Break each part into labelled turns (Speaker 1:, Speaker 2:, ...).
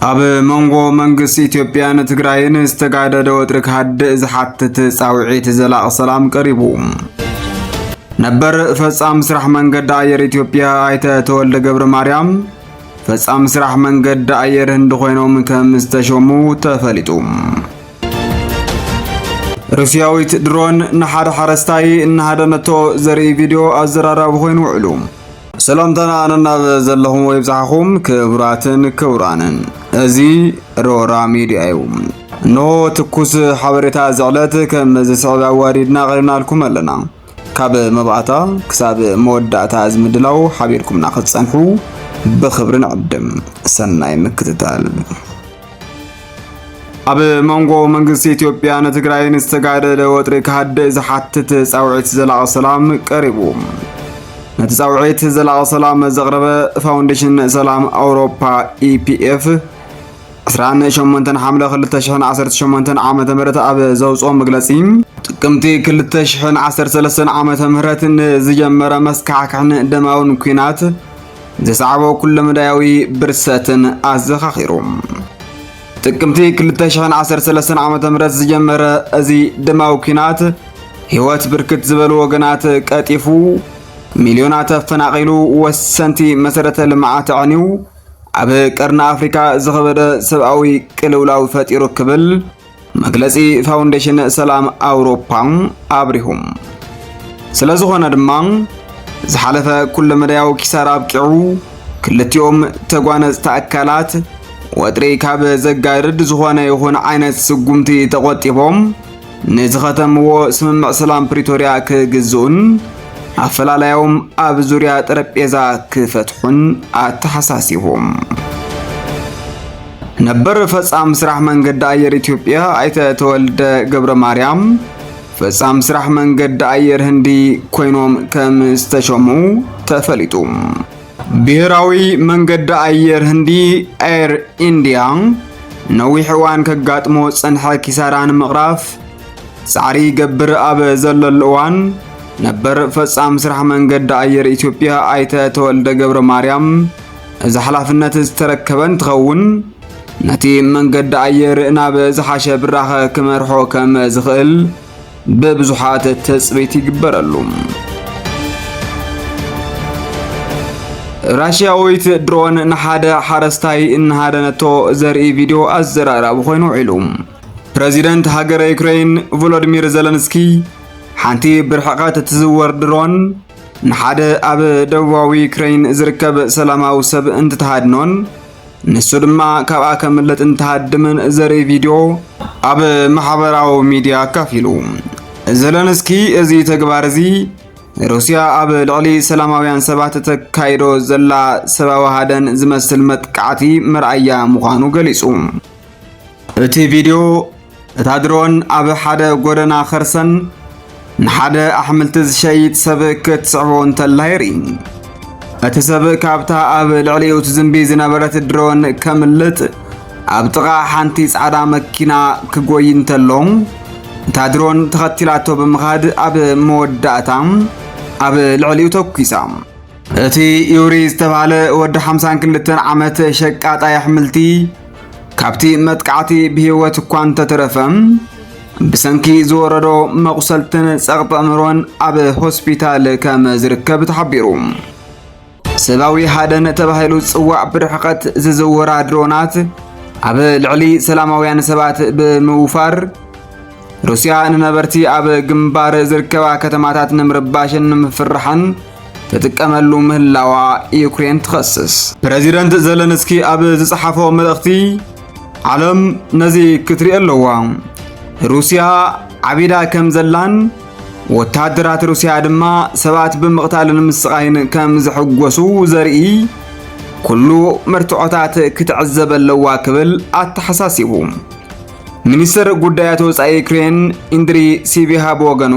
Speaker 1: ኣብ መንጎ መንግስቲ ኢትዮጵያን ትግራይን ዝተጋደደ ወጥሪ ክሃድእ ዝሓትት ጻውዒት ዘላቕ ሰላም ቀሪቡ። ነበር ፈጻሚ ስራሕ መንገዲ ኣየር ኢትዮጵያ ኣይተ ተወልደ ገብረ ማርያም ፈጻሚ ስራሕ መንገዲ ኣየር ህንዲ ኮይኖም ከም ዝተሾሙ ተፈሊጡ። ሩስያዊት ድሮን ንሓደ ሓረስታይ እናሃደነቶ ዘርኢ ቪድዮ ኣዘራራቢ ኮይኑ ውዕሉ። ሰላምታና ነናብ ዘለኹም ወይ ብጽሓኹም ክቡራትን ክቡራንን እዚ ሮራ ሚድያ እዩ። እንሆ ትኩስ ሓበሬታ እዚ ዕለት ከም ዝስዕብ ኣዋዲድና ኣቕሪብናልኩም ኣለና። ካብ መባእታ ክሳብ መወዳእታ እዚ ምድላው ሓቢርኩምና ክትጸንሑ ብኽብሪ ንዕድም። ሰናይ ምክትታል። ኣብ መንጎ መንግስቲ ኢትዮጵያን ትግራይን ዝተጋደለ ወጥሪ ክሃድእ ዝሓትት ጻውዒት ዘላቂ ሰላም ቀሪቡ። ነቲ ጻውዒት ዘላቂ ሰላም ዘቕረበ ፋውንዴሽን ሰላም ኣውሮፓ ኢፒኤፍ 28 ሓምለ 2018 ዓ ም ኣብ ዘውፅኦ መግለፂ ጥቅምቲ 2013 ዓ ም ንዝጀመረ መስካሕክሕን ደማውን ኩናት ዘስዓቦ ኩለመዳያዊ ብርሰትን ኣዘኻኺሩ። ጥቅምቲ 2013 ዓ ም ዝጀመረ እዚ ደማዊ ኲናት ህይወት ብርክት ዝበሉ ወገናት ቀጢፉ ሚልዮናት ኣፈናቒሉ ወሰንቲ መሰረተ ልምዓት ኣዕንዩ ኣብ ቀርኒ ኣፍሪካ ዝኸበደ ሰብኣዊ ቅልውላው ፈጢሩ ክብል መግለጺ ፋውንዴሽን ሰላም ኣውሮፓ ኣብሪሁ። ስለ ዝኾነ ድማ ዝሓለፈ ኩለመዳያዊ ኪሳራ ኣብቂዑ ክልቲኦም ተጓነጽቲ ኣካላት ወጥሪ ካብ ዘጋድድ ዝኾነ ይኹን ዓይነት ስጉምቲ ተቖጢቦም ንዝኸተምዎ ስምምዕ ሰላም ፕሪቶርያ ክግዝኡን ኣፈላላዮም ኣብ ዙርያ ጠረጴዛ ክፈትሑን ኣተሓሳሲቡ። ነበር ፈጻሚ ስራሕ መንገዲ ኣየር ኢትዮጵያ ኣይተ ተወልደ ገብረ ማርያም ፈጻሚ ስራሕ መንገዲ ኣየር ህንዲ ኮይኖም ከም ዝተሸሙ ተፈሊጡ። ብሔራዊ መንገዲ ኣየር ህንዲ ኤር ኢንዲያ ነዊሕ እዋን ከጋጥሞ ዝጸንሐ ኪሳራ ንምቕራፍ ጻዕሪ ይገብር ኣብ ዘለሉ እዋን ነበር ፈጻሚ ስራሕ መንገዲ ኣየር ኢትዮጵያ ኣይተ ተወልደ ገብረ ማርያም እዚ ሓላፍነት ዝተረከበ እንትኸውን ነቲ መንገዲ ኣየር ናብ ዝሓሸ ብራኸ ክመርሖ ከም ዝኽእል ብብዙሓት ትጽቢት ይግበረሉ። ራሽያዊት ድሮን ንሓደ ሓረስታይ እናሃደነቶ ዘርኢ ቪድዮ ኣዘራራቢ ኮይኑ ውዒሉ። ፕረዚደንት ሃገረ ዩክሬን ቮሎዲሚር ዘለንስኪ ሓንቲ ብርሕቐት እትዝወር ድሮን ንሓደ ኣብ ደቡባዊ ዩክሬን ዝርከብ ሰላማዊ ሰብ እንትትሃድኖን ንሱ ድማ ካብኣ ከምልጥ እንትሃድምን ዘርኢ ቪድዮ ኣብ ማሕበራዊ ሚድያ ኣካፊሉ። ዘለንስኪ እዚ ተግባር እዚ ሩስያ ኣብ ልዕሊ ሰላማውያን ሰባት ተካይዶ ዘላ ሰብኣዊ ሃደን ዝመስል መጥቃዕቲ መርኣያ ምዃኑ ገሊጹ። እቲ ቪድዮ እታ ድሮን ኣብ ሓደ ጎደና ኸርሰን ንሓደ ኣሕምልቲ ዝሸይጥ ሰብ ክትስዕቦ እንተላ የርኢ። እቲ ሰብ ካብታ ኣብ ልዕሊኡ ትዝንቢ ዝነበረት ድሮን ከምልጥ ኣብ ጥቓ ሓንቲ ጻዕዳ መኪና ክጎይ እንተሎ እታ ድሮን ተኸቲላቶ ብምኻድ ኣብ መወዳእታ ኣብ ልዕሊኡ ተኩሳ። እቲ ዩሪ ዝተባህለ ወዲ ሓምሳን ክልተን ዓመት ሸቃጣይ ኣሕምልቲ ካብቲ መጥቃዕቲ ብህይወት እኳ እንተተረፈ ብሰንኪ ዝወረዶ መቑሰልትን ጸቕጢ ኣእምሮን ኣብ ሆስፒታል ከም ዝርከብ ተሓቢሩ። ሰብኣዊ ሃደን ተባሂሉ ዝጽዋዕ ብርሕቐት ዝዝውራ ድሮናት ኣብ ልዕሊ ሰላማውያን ሰባት ብምውፋር ሩስያ ንነበርቲ ኣብ ግንባር ዝርከባ ከተማታት ንምርባሽን ንምፍርሓን ትጥቀመሉ ምህላዋ ዩክሬን ትኸስስ። ፕረዚደንት ዘለንስኪ ኣብ ዝጸሓፎ መልእኽቲ ዓለም ነዚ ክትሪኦ ኣለዋ፣ ሩስያ ዓቢዳ ከም ዘላን ወተሃደራት ሩስያ ድማ ሰባት ብምቕታልን ምስቓይን ከም ዝሕጎሱ ዘርኢ ኩሉ መርትዖታት ክትዕዘብ ኣለዋ ክብል ኣተሓሳሲቡ። ሚኒስትር ጉዳያት ወፃኢ ዩክሬን ኢንድሪ ሲቢሃ ብወገኑ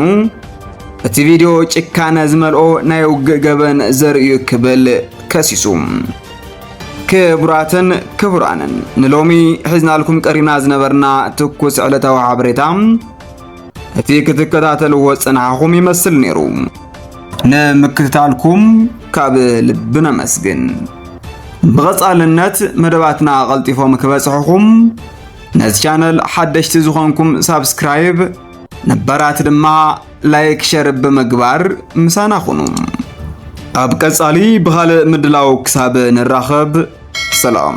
Speaker 1: እቲ ቪድዮ ጭካነ ዝመልኦ ናይ ውግእ ገበን ዘርእዩ ክብል ከሲሱ። ክቡራትን ክቡራንን ንሎሚ ሒዝናልኩም ቀሪብና ዝነበርና ትኩስ ዕለታዊ ሓበሬታ እቲ ክትከታተልዎ ጽንሓኹም ይመስል ነይሩ። ንምክትታልኩም ካብ ልቢ ነመስግን። ብቐጻልነት መደባትና ቐልጢፎም ክበጽሑኹም ነዚ ቻነል ሓደሽቲ ዝኾንኩም ሳብስክራይብ፣ ነባራት ድማ ላይክ ሸር ብምግባር ምሳና ኹኑ። ኣብ ቀጻሊ ብኻልእ ምድላው ክሳብ ንራኸብ ሰላም።